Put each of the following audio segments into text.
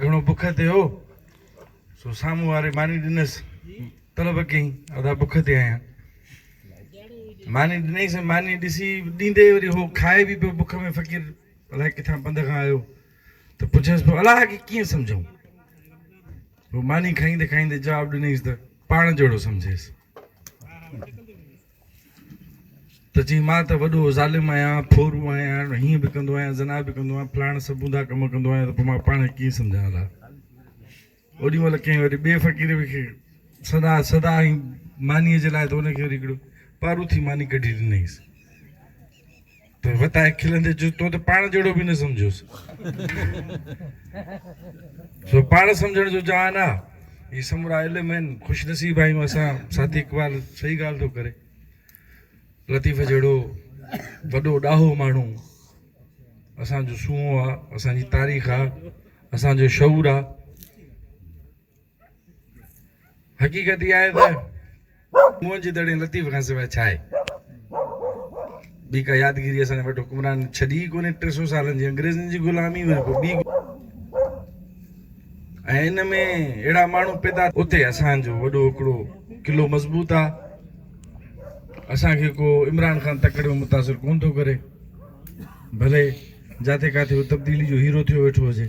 گهڻو بک تي هو، سو سامهون واري ماني ڏنس. طلب ڪيائين، ادا بک تي آهيان. ماني ڏنائينس ۽ ماني ڏسي ڏيندي وري هو کائي به پيو بک ۾. فقير الائي ڪٿان پنڌ کان آيو ته پڇيس پيو، الائي کي ڪيئن سمجهون؟ هو ماني کائيندي کائيندي جواب ڏنائينس ته پاڻ جهڙو سمجهيس. ته جي مان ته وڏو ظالم آهيان، ڦورو آهيان، هيئن به ڪندو آهيان، زنا به ڪندو آهيان، فلاڻا سڀونڌا ڪم ڪندو آهيان ته پوء مان پاڻ ڪيئن سمجهان الا؟ اوڏي مهل ڪنهن وري ٻئي فقير به کي سدا سدا ۽ مانيء جي لاء ته ان کي وري هڪڙو پاروٿي ماني ڪڍي ڏنائينس. ته وتايي کلندي چيس، تو ته پاڻ جهڙو به نه سمجهيوس. سو پاڻ سمجهڻ جو جهان آ. هي سمورا علم آهن. خوش نصيب آهيون اسان. ساٿي اقبال صحيح ڳالهه ٿو ڪري. لطيف جهڙو وڏو ڏاهو ماڻهو اسان جو سونهون آ، اسان جي تاريخ آ، اسان جو شعور آ. حقيقت اها آهي ته موهن جي دڙي لطيف کان سواء ڇا آهي؟ ٻي ڪا يادگيري اسان جي وٽ حڪمران ڇڏي ئي ڪونهي، ٽي سؤ سالن جي انگريزن جي غلامي وري پوء ٻي ۽ ان ۾ اهڙا ماڻهو پيدا اتي اسان جو وڏو هڪڙو قلعو مضبوط آ، اسان کي ڪو عمران خان تڪڙيون متاثر ڪونه ٿو ڪري، ڀلي جاٿي ڪاٿي هو تبديلي جو هيرو ٿيو ويٺو هجي.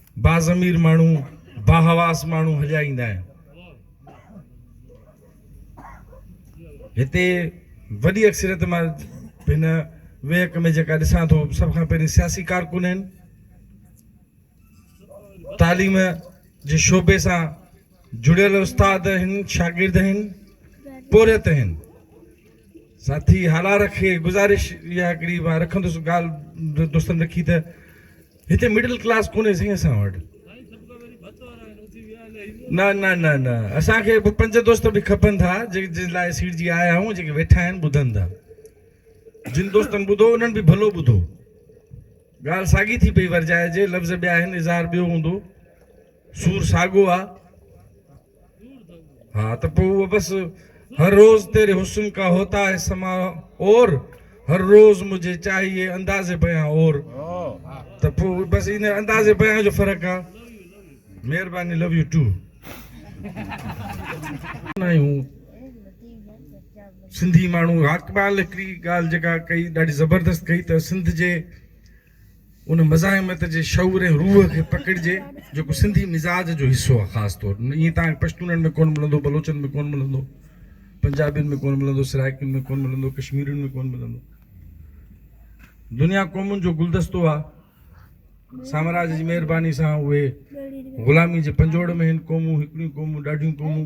باضمير ماڻهو باحواس ماڻهو هليا ايندا آهن هتي وڏي اڪثريت مان هن ويهڪ ۾ جيڪا ڏسان ٿو سڀ کان پهرين سياسي ڪارڪن آهن تعليم جي شعبي سان جڙيل استاد آهن شاگرد آهن پورهيت آهن ساٿي حالار کي گزارش اها هڪڙي رکندس ڳالهه دوستن رکي ته هتي مڊل ڪلاس ڪونهي سائين اسان وٽ. نه نه نه نه اسان کي به پنج دوست به کپن ٿا جن جن لاء سيٺ جي آيا آهيون جيڪي ويٺا آهن ٻڌن ٿا جن دوستن ٻڌو انهن به ڀلو ٻڌو ڳالهه ساڳي ٿي پئي ورجائجي لفظ ٻيا آهن اظهار ٻيو هوندو سور ساڳو آ ها ته پوء اهو بس هر روز تيري حسن ڪا هوتا هي سما اور هر روز مجهي چاهيي انداز بيان اور ته پوء بس ان انداز بيان جو فرق آ مهرباني لو يو ٽو. آهيون سنڌي ماڻهو اقبال هڪڙي ڳالهه جيڪا ڪئي ڏاڍي زبردست ڪئي ته سنڌ جي. ان مزاحمت جي شعور ۽ روح کي پڪڙجي جيڪو سنڌي مزاج جو حصو آ خاص طور ائين تان کي پشتونن ۾ ڪون ملندو بلوچن ۾ ڪون ملندو پنجابين ۾ ڪون ملندو سرائڪين ۾ ڪون ملندو ڪشميرين ۾ ڪون ملندو دنيا قومن جو گلدستو آ سامراج جي مهرباني سان اهي غلامي جي پنجوڙ ۾ هن قومون هڪڙيون قومون ڏاڍيون قومون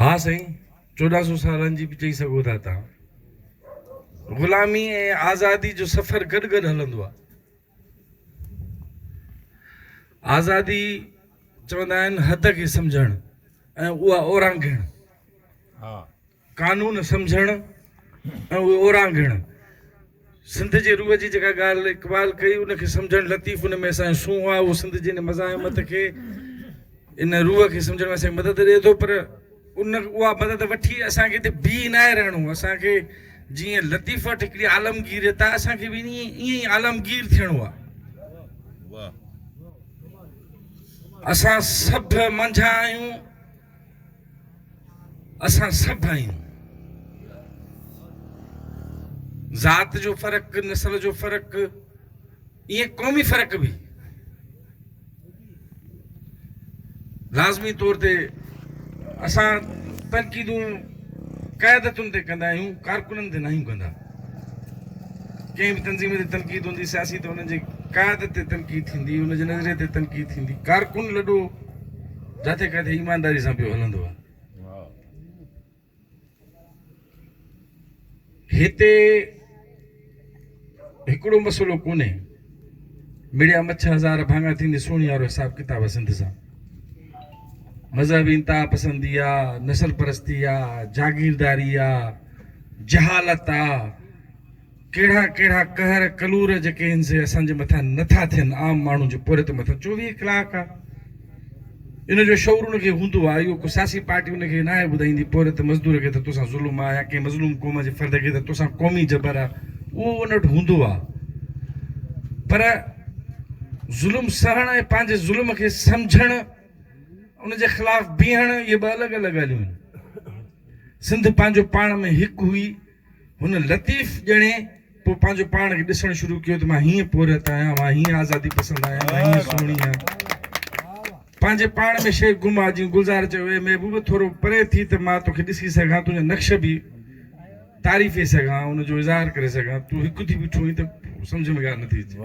ها سائين چوڏهن سو سالن جي به چئي سگهو ٿا توهان. غلامي ۽ آزادي جو سفر گڏ گڏ هلندو آهي. آزادي چوندا آهن حد کي سمجهڻ ۽ اها اورانگهڻ. قانون سمجهڻ ۽ اهي اورانگهڻ. سنڌ جي روح جي جيڪا ڳالهه اقبال ڪئي ان کي سمجهڻ لطيف ان ۾ اسان جو سونهن آهي اهو سنڌ جي ان مزاحمت کي ان روح کي سمجهڻ ۾ اسان کي مدد ڏئي ٿو پر ان اها مدد وٺي اسان کي هتي بيهي ناهي رهڻو اسان کي جيئن لطيف وٽ هڪڙي عالمگيريت آهي اسان کي به ائين ائين ئي عالمگير ٿيڻو آهي اسان سڀ منجهان آهيون اسان سڀ آهيون. ذات جو فرق، نسل جو فرق، ائين قومي فرق به لازمي طور تي اسان تنقيدون قيادتن تي ڪندا آهيون ڪارڪنن تي ناهيون ڪندا ڪنهن به تنظيم تي تنقيد هوندي سياسي ته انهن جي قيادت تي تنقيد ٿيندي ان جي نظريي تي تنقيد ٿيندي ڪارڪن لڏو جتي ڪٿي ايمانداري سان پيو هلندو آ. هتي هڪڙو مسئلو ڪونهي مڙيا مڇ هزار ڀاڱا ٿيندي سوني وارو حساب ڪتاب آ سنڌ سان مذهبي انتها پسندي آ نسل پرستي آ جاگيرداري آ جهالت آ ڪهڙا ڪهڙا قهر ڪلور جيڪي هن سي اسان جي مٿان نه ٿا ٿين عام ماڻهو جي پورهيت مٿان چوويهه ڪلاڪ آ ان جو شعور ان کي هوندو آ اهو ڪو سياسي پارٽي ان کي ناهي ٻڌائيندي پورهيت مزدور کي ته توسان ظلم آ يا ڪنهن مظلوم قوم جي فرد کي ته توسان قومي جبر آ اهو ان وٽ هوندو آ پر ظلم سهڻ ۽ پنهنجي ظلم کي سمجهڻ ان جي خلاف بيهڻ اهي ٻه الڳ الڳ ڳالهيون آهن سنڌ پنهنجو پاڻ ۾ هڪ هئي هن لطيف ڄڻي پوء پنهنجو پاڻ کي ڏسڻ شروع ڪيو ته مان هيئن پورهيت آهيان، مان هيئن آزادي پسند آهيان، مان هيئن سهڻي آهيان. پنهنجي پاڻ ۾ شيخ گما جيئن گلزار چيو، اي محبوب! ٿورو پري ٿي ته مان توکي ڏسي سگهان، تنهنجا نقش به تعريفي سگهان، ان جو اظهار ڪري سگهان. تون هڪ ٿي بيٺو آهين ته سمجهه ۾ ڳالهه نٿي اچي.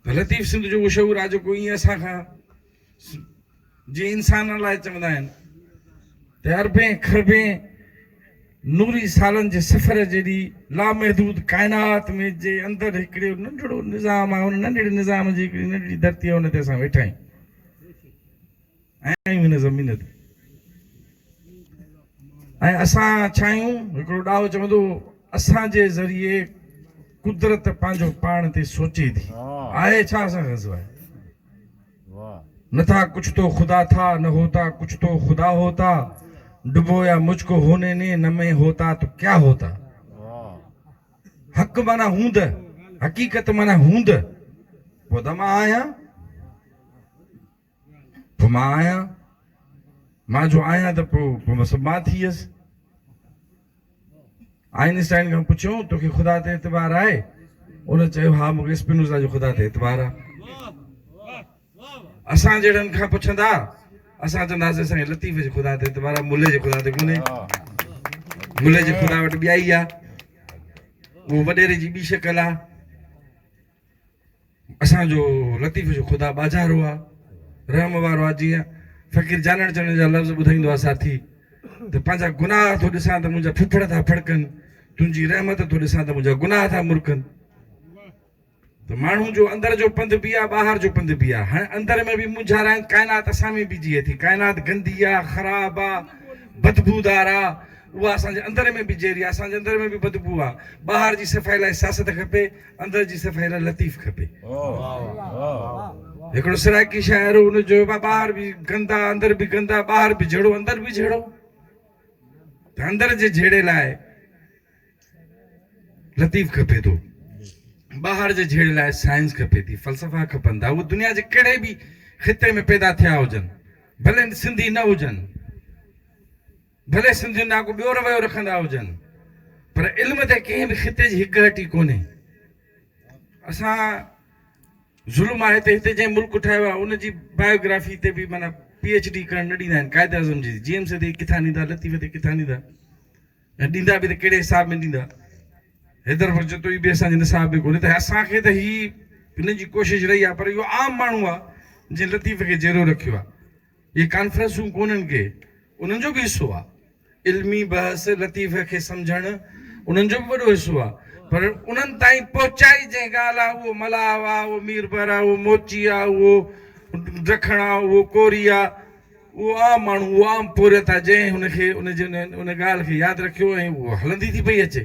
ته لطيف سنڌ جو اهو شعور آجو ڪو ايئن اسان کان جي انسانن لاء چوندا آهن ته اربين کربين نوري سالن جي سفر جيڏي لامحدود ڪائنات ۾ جي اندر هڪڙي ننڍڙو نظام آهي ان ننڍڙي نظام جي هڪڙي ننڍڙي ڌرتي آهي ان تي اسان ويٺا آهيون آهيون هن زمين تي ۽ اسان ڇا آهيون هڪڙو ڏاهو چوندو هو اسان جي ذريعي قدرت پنهنجو پاڻ تي سوچي ٿي آهي ڇا اسان کان سواء نه ٿا ڪڇ تو خدا ٿا، نه هوتا ڪڇ تو خدا هوتا، ڊبو يا مجھ ڪو هوني ني نه مين هوتا تو ڪيا هوتا. حق معنيٰ هوند، حقيقت معنيٰ هوند، پوء ته مان آهيان، پوء مان آهيان، مان جو آهيان ته پوء مان ٿي ويس. آئنسٽائن کان پڇيو تو کي خدا تي اعتبار آهي؟ ان چيو ها مون کي اسپنوزا جو خدا تي اعتبار آ. اسان جهڙن کان پڇندا اسان چونداسين اسان کي لطيف جي خدا تي اعتبار آ ملهي جي خدا تي ڪونهي. ملهي جي خدا وٽ ٻيائي آ. اهو وڏيري جي ٻي شڪل آ. اسان جو لطيف جو خدا ٻاجهارو آ، رحم وارو آ جيئن فقير جانڻ چڻ جا لفظ ٻڌائيندو آ ساٿي ته پنهنجا گناهه ٿو ڏسان ته منهنجا ڦڦڙ ٿا ڦڙڪن، تنهنجي رحمت ٿو ڏسان ته منهنجا گناهه ٿا مرڪن. ته ماڻهو جو اندر جو پنڌ به آ ٻاهر جو پنڌ به آ، هاڻي اندر ۾ به مونجهار آهن، ڪائنات اسان ۾ به جيئي ٿي، ڪائنات گندي آ، خراب آ، بدبودار آ، اها اسان جي اندر ۾ به جيئري آ، اسان جي اندر ۾ به بدبو آ، ٻاهر جي صفائي لاء سياست کپي، اندر جي صفائي لاء لطيف کپي. هڪڙو سرائيڪي شاعر هو ان جو ٻاهر به گندا اندر به گندا ٻاهر به جهڙو اندر به جهڙو ته اندر جي جهيڙي لاء لطيف کپي ٿو ٻاهر جي جهيڙي لاء سائنس کپي ٿي فلسفا کپن ٿا اهو دنيا جي ڪهڙي به خطي ۾ پيدا ٿيا هجن ڀلي سنڌي نه هجن ڀلي سنڌين ڏانهن ڪو ٻيو رويو رکندا هجن پر علم تي ڪنهن به خطي جي هڪ هٽي ڪونهي. اسان ظلم آهي ته هتي جنهن ملڪ ٺاهيو آهي ان جي بايوگرافي تي به معنيٰ پي ايڇ ڊي ڪرڻ نه ڏيندا آهن قائد اعظم جي جي ايم سي تي ڪٿان ڏيندا لطيف تي ڪٿان ڏيندا ۽ ڏيندا به ته ڪهڙي حساب ۾ ڏيندا حيدر بخش جتوئي به اسان جي نصاب ۾ ڪونهي ته اسان کي ته هي هن جي ڪوشش رهي آهي پر اهو عام ماڻهو آهي جنهن لطيف کي جيئرو رکيو آهي. اهي ڪانفرنسون ڪونهن ڪي انهن جو به حصو آ علمي بحث لطيفه کي سمجهڻ انهن جو به وڏو حصو آ پر انهن تائين پهچائي جنهن ڳالهه آ اهو ملاح آ اهو ميربحر آ اهو موچي آ اهو ڊکڻ آ اهو ڪوري آ اهو عام ماڻهو اهو عام پورهيت آ جنهن ان کي ان جي ان ڳالهه کي ياد رکيو ۽ اهو هلندي ٿي پئي اچي.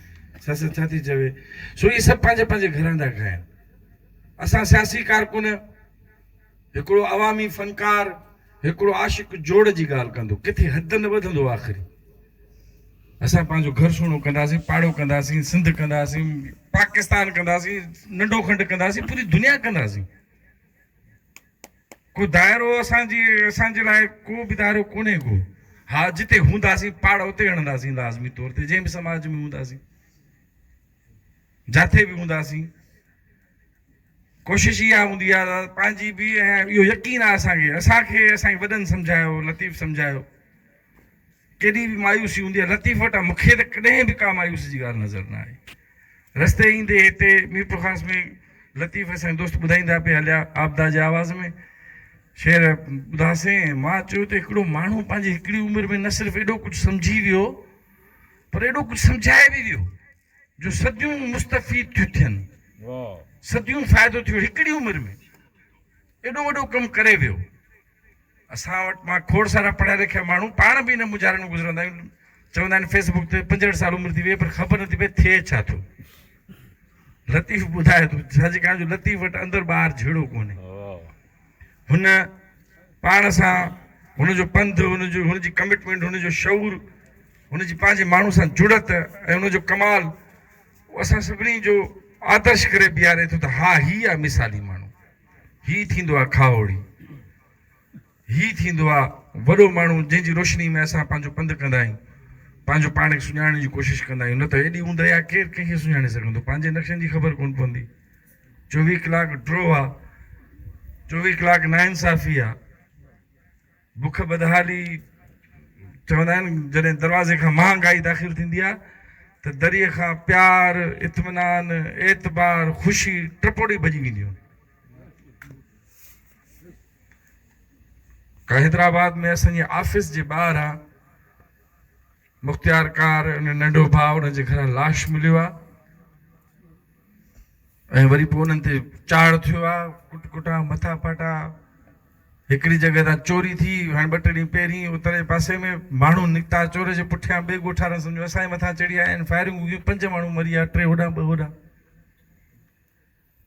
سياست ڇا ٿي چوي؟ سو اهي سڀ پنهنجي پنهنجي گهرن ٿا کائن. اسان سياسي ڪارڪن، هڪڙو عوامي فنڪار، هڪڙو عاشق جوڙ جي ڳالهه ڪندو ڪٿي حد نه وڌندو آخري. اسان پنهنجو گهر سهڻو ڪنداسين، پاڙو ڪنداسين، سنڌ ڪنداسين، پاڪستان ڪنداسين، ننڍو کنڊ ڪنداسين، پوري دنيا ڪنداسين. ڪو دائرو اسان جي اسان جي لاء ڪو به دائرو ڪونهي ڪو ها جتي هونداسين پاڙ اتي هڻنداسين لازمي طور تي جنهن به سماج ۾ هونداسين جاٿي به هونداسين ڪوشش اها هوندي آهي پنهنجي به اهو يقين آهي اسان کي اسان کي اسان جي وڏن سمجهايو لطيف سمجهايو ڪيڏي به مايوسي هوندي آهي لطيف وٽان مون کي ته ڪڏهن به ڪا مايوسي جي ڳالهه نظر نه آئي. رستي ايندي هتي ميرپورخاص ۾ لطيف اسان جا دوست ٻڌائيندا پئي هليا عابده جي آواز ۾ شعر ٻڌاسين ۽ مان چيو ته هڪڙو ماڻهو پنهنجي هڪڙي عمر ۾ نه صرف ايڏو ڪجهه سمجهي ويو پر ايڏو ڪجهه سمجهائي به ويو جو صديون مستفيد ٿيون ٿين صديون فائدو ٿيو هڪڙي عمر ۾ ايڏو وڏو ڪم ڪري ويو. اسان وٽ مان کوڙ سارا پڙهيا لکيا ماڻهو پاڻ به انهن مونجهارن مان گذرندا آهيون. چوندا آهن فيس بڪ تي پنجهٺ سال عمر ٿي وئي پر خبر نٿي پئي ٿئي ڇا ٿو. لطيف ٻڌائي ٿو سچ ڪهان جو لطيف وٽ اندر ٻاهر جهيڙو ڪونهي. هن پاڻ سان هن جو پنڌ هن جو هن جي ڪمٽمينٽ هن جو شعور هن جي پنهنجي ماڻهو سان جڙت ۽ هن جو ڪمال اسان سڀني جو آدرش ڪري بيهاري ٿو ته ها هي آهي مثالي ماڻهو. هي ٿيندو آهي کاهوڙي. هي ٿيندو آهي وڏو ماڻهو جنهن جي روشني ۾ اسان پنهنجو پنڌ ڪندا آهيون. پنهنجو پاڻ کي سڃاڻڻ جي ڪوشش ڪندا آهيون. نه ته ايڏي اونداهي آهي ڪير ڪنهن کي سڃاڻي سگهندو. پنهنجي نقشن جي خبر ڪونه پوندي. چوويهه ڪلاڪ ڊرو آهي. چوويهه ڪلاڪ ناانصافي آهي. بک بدحالي چوندا آهن جڏهن دروازي کان مهانگائي داخل ٿيندي آهي ته دريء کان پيار، اطمينان، اعتبار، خوشي ٽپوڙي ڀڄي وينديون آهن. حيدرآباد ۾ اسان جي آفيس جي ٻاهران. مختيار ڪار ان ننڍو ڀاء ان جي گهران لاش مليو آ ۽ وري پوء انهن تي چاڙ ٿيو آ ڪٽ ڪٽا مٿا ڦاٽا هڪڙي جڳهه تان چوري ٿي هاڻي ٻه ٽي ڏينهن پهرين اتري پاسي ۾ ماڻهو نڪتا چور جي پٺيان ٻئي ڳوٺ وارن سمجهيو اسان جي مٿان چڙهي آيا آهن فائرنگون ڪيون پنج ماڻهو مري ويا ٽي هوڏانهن ٻه هوڏانهن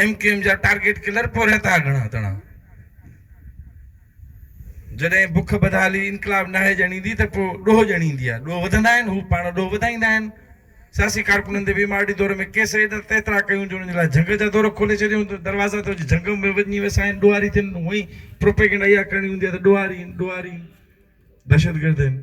ايم ڪيو ايم جا ٽارگيٽ ڪلر پورهيا ٿا گهڻا تڻا. جڏهن بک بدحالي انقلاب ناهي ڄڻيندي ته پوء ڏوهه ڄڻيندي آهي. ڏوهه وڌندا آهن، هو پاڻ ڏوهه وڌائيندا آهن. سياسي ڪارڪنن تي ويم آر ڊي دور ۾ ڪيس ايڏا ته ايترا ڪيون جو انهن جي لاء جهنگ جا دور کولي ڇڏيون ته دروازا ته هجي جهنگ ۾ وڃي وسائين ڏوهاري ٿين هونء ئي پروپيگنڊا اها ڪرڻي هوندي آهي ته ڏوهاري آهن ڏوهاري دهشتگرد آهن.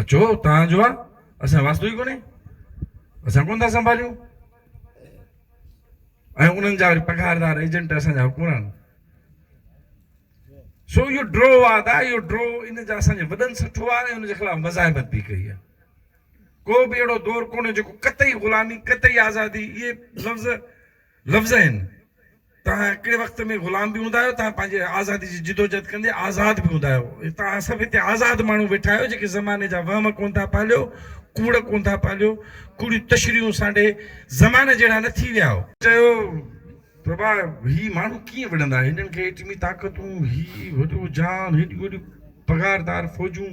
اچو توهان جو آ اسان واسطو ئي ڪونهي اسان ڪونه ٿا سنڀاليون ۽ انهن جا وري پگهاردار ايجنٽ اسان جا حڪمران آهن سو اهو ڊرو آد آهي اهو ڊرو ان جا اسان جي وڏن سٺو آهي ۽ ان جي خلاف مزاحمت به ڪئي آهي ڪو به اهڙو دور ڪونهي جيڪو قطعي غلامي قطعي آزادي اهي لفظ لفظ آهن توهان هڪڙي وقت ۾ غلام به هوندا آهيو، توهان پنهنجي آزادي جي جدوجهد ڪندي آزاد به هوندا آهيو. توهان سڀ هتي آزاد ماڻهو ويٺا آهيو، جيڪي زماني جا وهم ڪونه ٿا پاليو، ڪوڙ ڪونه ٿا پاليو، ڪوڙيون تشريحون سانڍي زماني جهڙا نه ٿي ويا آهيو. چيو ته ڀاء هي ماڻهو ڪيئن وڙهندا، هنن کي ايٽمي طاقتون، هي وڏو جهان، هيڏيون وڏيون پگهاردار فوجون،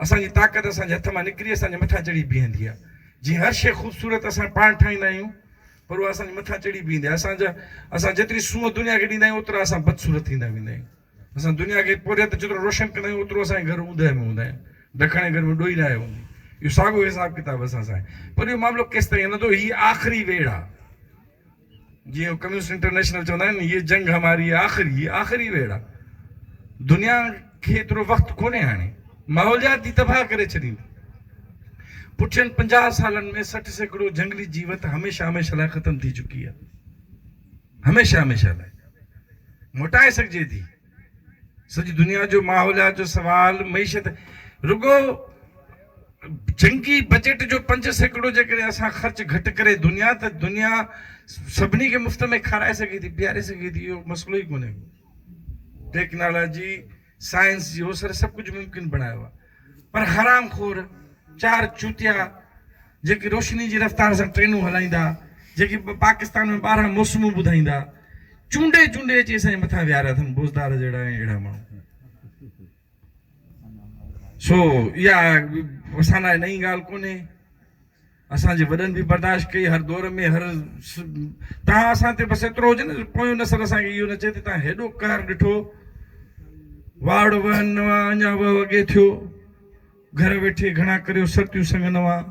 اسان جي طاقت اسان جي هٿ مان نڪري اسان جي مٿان چڙهي بيهندي آهي. جيئن هر شيء خوبصورت اسان پاڻ ٺاهيندا آهيون پر اها اسان جي مٿان چڙهي بيهندي آهي. اسان جا اسان جيتري سونهن دنيا کي ڏيندا آهيون اوترا اسان بدصورت ٿيندا ويندا آهيون. اسان دنيا کي پورهيت جيترو روشن ڪندا آهيون اوترو اسان جا گهر اوندهه ۾ هوندا آهن. ڊکڻ جي گهر ۾ ڏوئي ناهي هوندي. اهو ساڳيو حساب ڪتاب اسان سان آهي. پر اهو معاملو ڪيستائين هلندو؟ هي آخري ويڙهه آهي. جيئن ڪميونسٽ انٽرنيشنل چوندا آهن يي جنگ هماري آخري هي آخري ويڙ آ دنيا کي ايترو وقت ڪونهي هاڻي ماحوليات جي تباهه ڪري ڇڏيندي پٺين پنجاهه سالن ۾ سٺ سيڪڙو جهنگلي جيوت هميشه هميشه لاء ختم ٿي چڪي آ هميشه هميشه لاء موٽائي سگهجي ٿي سڄي دنيا جو ماحوليات جو سوال معيشت رڳو جنگي بجيٽ جو پنج سيڪڙو جيڪڏهن اسان خرچ گهٽ ڪري دنيا ته دنيا سڀني کي مفت ۾ کارائي سگهي ٿي پياري سگهي ٿي اهو مسئلو ئي ڪونهي ٽيڪنالاجي سائنس جي اوسر سڀ ڪجهه ممڪن بڻايو آهي پر حرام خور چار چوتيا جيڪي روشني جي رفتار سان ٽرينون هلائيندا، جيڪي پاڪستان ۾ ٻارهن موسمون ٻڌائيندا، چونڊي چونڊي اچي اسان جي مٿان ويهاريا اٿن بوزدار جهڙا ۽ اهڙا ماڻهو. سو اها اسان لاء نئين ڳالهه ڪونهي، اسان جي وڏن به برداشت ڪئي هر دور ۾ هر تان اسان تي بس ايترو هجي نه ته پويون نسل اسان کي اهو نه چئي ته تان هيڏو قهر ڏٺو واڙ وهن نوان اڃا وهه اڳي ٿيو. گهر ويٺي گهڻا ڪريو سرتيون سڱن اوهان.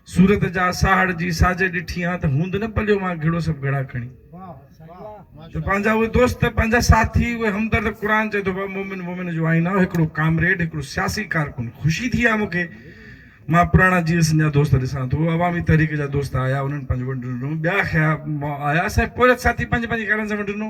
سورت جا ساهڙ جي ساجه ڏٺي آن ته هوند نه پليو مان گهڙو سڀ گهڙا کڻي. ته پنهنجا اهي دوست پنهنجا ساٿي اهي همدرد قرآن چئي ٿو مومن مومن جو آئينه آهو هڪڙو ڪامريڊ هڪڙو سياسي ڪارڪن خوشي ٿي آ مونکي مان پراڻا جي سنڌ جا دوست ڏسان ٿو عوامي تحريڪ جا دوست آيا انهن پنهنجو ونڊ ڏنو ٻيا کيا آيا سائين پورهيت ساٿي پنهنجي پنهنجي گهرن سان ونڊ ڏنو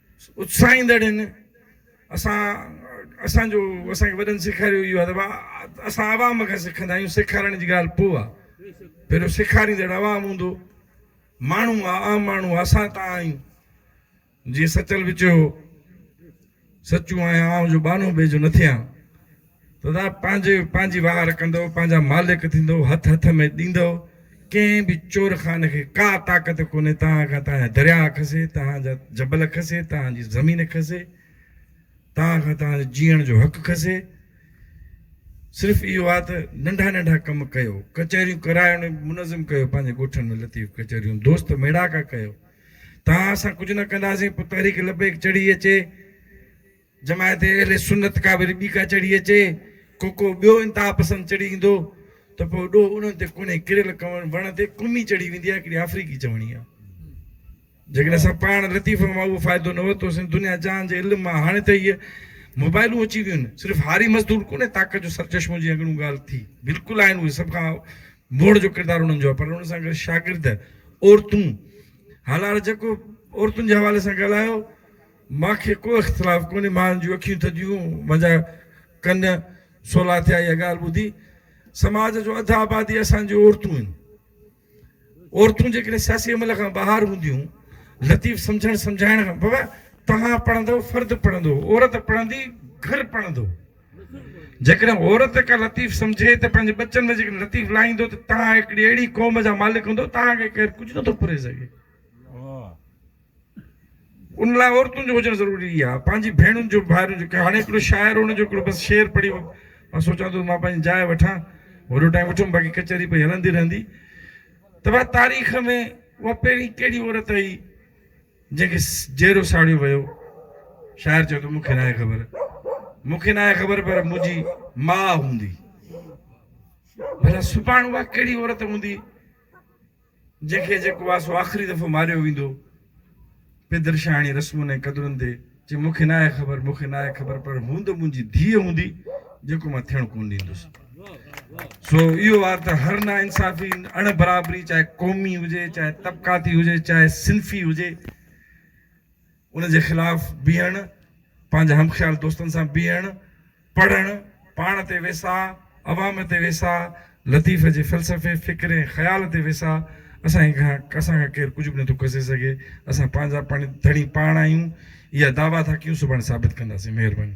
اتساهيندڙ هن اسان اسان جو اسان کي وڏن سيکاريو اهو ادب آهي اسان عوام کان سکندا آهيون سيکارڻ جي ڳالهه پوء آهي پهريون سيکاريندڙ عوام هوندو ماڻهو آهي عام ماڻهو آهي اسان تان آهيون جيئن سچل به چيو سچو آهيان آئون جو ٻانهو ٻئي جو نه ٿيان سدا پنهنجي پنهنجي واهر ڪندو، پنهنجا مالڪ ٿيندو، هٿ هٿ ۾ ڏيندو، ڪنهن به چور خانه کي ڪا طاقت ڪونهي توهان کان توهان جا درياء کسي، توهان جا جبل کسي، توهان جي زمين کسي، توهان کان توهان جي جيئڻ جو حق کسي، صرف اهو آ ته ننڍا ننڍا ڪم ڪيو، ڪچهريون ڪرايو ۽ منظم ڪيو پنهنجي ڳوٺن ۾ لطيف ڪچهريون دوست ميڙاڪا ڪيو، توهان اسان ڪجهه نه ڪنداسين پوء تحريڪ لبيڪ چڙهي اچي، جماعت اهل سنت ڪا وري ٻي ڪا چڙهي اچي، ڪو ڪو ٻيو انتها پسند چڙهي ايندو ته پوء ڏوهه انهن تي ڪونهي، ڪريل ڪنوڻ وڻ تي ڪمي چڙهي ويندي آهي هڪڙي آفريڪي چوڻي آهي. جيڪڏهن اسان پاڻ لطيفن مان اهو فائدو نه ورتوسين دنيا جهان جي علم مان هاڻي ته هيء موبائلون اچي ويون آهن صرف هاري مزدور ڪونهي طاقت جو سرچشمو جيئن اڳڻو ڳالهه ٿي بلڪل آهن اهي سڀ کان موڙ جو ڪردار انهن جو آهي پر ان سان گڏ شاگرد عورتون هالاڙ جيڪو عورتن جي حوالي سان ڳالهايو مان کي ڪو اختلاف ڪونهي، مان جون اکيون ٿڌيون، منهنجا ڪن سولا ٿيا اها ڳالهه ٻڌي. سماج جو اڌ آبادي اسان جون عورتون آهن. عورتون جيڪڏهن سياسي عمل کان ٻاهر هونديون، لطيف سمجهڻ سمجهائڻ کان بابا توهان پڙهندو، فرد پڙهندو، عورت پڙهندي، گهر پڙهندو. جيڪڏهن عورت ڪا لطيف سمجهي ته پنهنجي ٻچن ۾ جيڪڏهن لطيف لائيندو ته توهان هڪڙي اهڙي قوم جا مالڪ هوندو، توهان کي ڪير ڪجهه نٿو پري سگهي. ان لاء عورتن جو هجڻ ضروري آهي پنهنجي ڀيڻن جو ڀائرن جو هاڻي هڪڙو شاعر ان جو هڪڙو بس شعر پڙهي مان سوچان ٿو مان پنهنجي جاء وٺان وڏو ٽائيم وٺم باقي ڪچهري پئي هلندي رهندي ته بھا تاريخ ۾ اها پهرين ڪهڙي عورت آئي جنهن کي جيرو ساڙيو ويو شاعر چيو ته مونکي ناهي خبر مونکي ناهي خبر پر منهنجي ماء هوندي بھلا سڀاڻ اها ڪهڙي عورت هوندي جنهن کي جيڪو آ سو آخري دفعو ماريو ويندو. پدرشاهڻي رسمن ۽ قدرن تي چي مون کي ناهي خبر، مون کي ناهي خبر پر هون ته منهنجي ڌيء هوندي جيڪو مان ٿيڻ ڪونه ڏيندس. سو اهو آ ته هر نا انصافي، اڻ برابري چاهي قومي هجي، چاهي طبقاتي هجي، چاهي صنفي هجي، ان جي خلاف بيهڻ، پنهنجا همخيال دوستن سان بيهڻ، پڙهڻ، پاڻ تي ويساهه، عوام تي ويساهه، لطيف جي فلسفي، فڪر ۽ خيال تي ويساهه، اسان کان اسان کان ڪير ڪجهه به نٿو کسي سگهي، اسان پنهنجا پاڻ ڌڻي پاڻ آهيون، اها دعويٰ ٿا ڪيون سڀاڻي ثابت ڪنداسين. مهرباني.